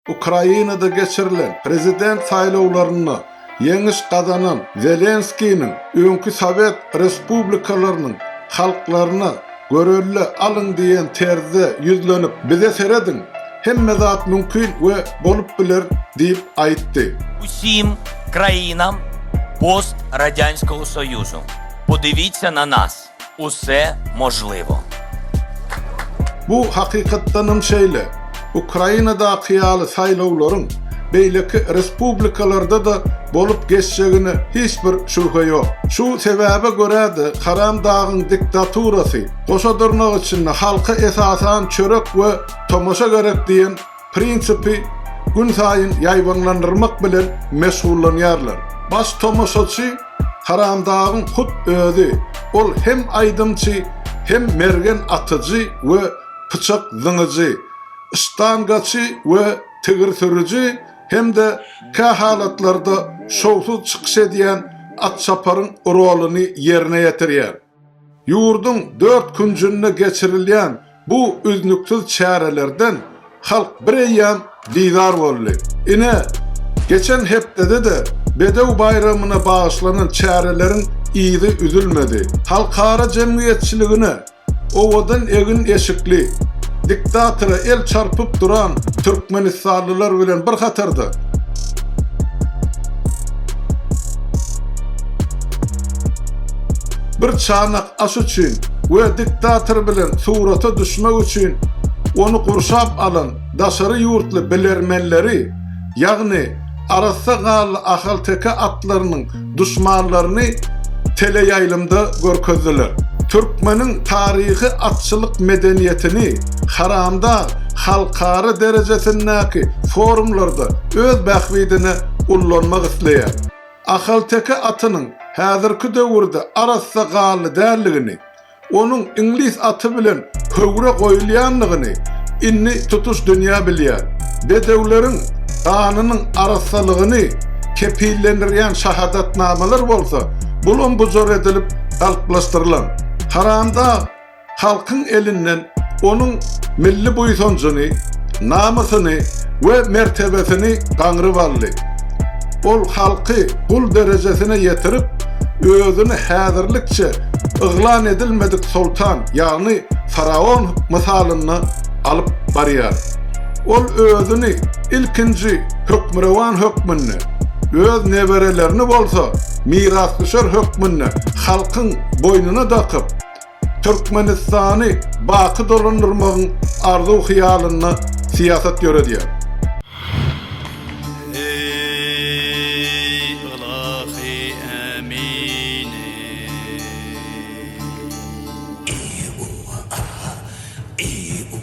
Ukrainada geçirilen prezident saýlawlarynda ýeňiş gazanan Zelenskiniň öňki sowet respublikalarynyň halklaryna Görelle alyň diýen terzde ýüzlenip, Bize serediň, hemme zat mümkin we bolup biler diýip aýtdy. Usim krainam post Radyanskogo Soyuzu, podivitsa na nas. Usse možlivo. Bu hakykatdanam şeýle. Ukrainadaky ýaly saýlawlaryň beýleki respublikalarda-da bolup geçjegine hiç bir şübhe ýok. Şu sebäbe görä-de Haram dagyň diktaturasy, goşadyrnak içinde halka esasan çörek we tomaşa gerek diýen prinsipi günsaýyn ýaýbaňlandyrmak bilen meşgullanýarlar. Baş tomaşaçy Haramdagyň hut özi, ol hem aýdymçy, hem mergen atyjy we pyçak zyňyjy, ştangaçy we tigir sürüji hem-de kähalatlarda şowsuz çykyş edýän Atçaparyň roluny ýerine ýetirýär. Ýurduň dört künjünde geçirilýän bu üznüksiz çärelerden halk bireýýäm bizar boldy. Ine, geçen hepdede-de Bedew baýramyna bagyşlanan çäreleriň yzy üzülmedi. Halkara jemgyýetçiligine owadan egin-eşikli, diktatora el çarpyp duran türkmenistanlylar bilen bir hatarda, Bir çanak aş üçin we diktator bilen surata düşmek üçin ony gurşap alan daşary ýurtly bilermenleri, ýagny arassa gally ahalteke atlarynyň duşmanlaryny teleýaýlymda görkezdiler. Türkmeniň taryhy atçylyk medeniýetini Haramdag halkara derejesindäki forumlarda öz bähbidine ullanmak isleýär. Ahalteke atynyň häzirki döwürde arassa gally däldigini, onuň iňlis aty bilen höwre goýulýandygyny indi tutuş dünýä bilýär. Bedewleriň ganynyň arassalygyny kepillendirýän şahadatnamalar bolsa bulam-bujar edilip galplaşdyrylan. Haramdag halkyň elinden onuň milli buýsanjyny, namysyny we mertebesini gaňryp aldy. Ol halky gul derejesine ýetirip, özüni häzirlikçe yglan edilmedik soltan, ýagny faraon mysalynda alyp barýar. Ol özüni ilkinji hökmürowan hökmünde, öz neberelerini bolsa mirasdüşer hökmünde halkyň boýnuna dakyp, Türkmenistany baky dolandyrmagyň arzuw-hyýalynda syýasat ýöredýär.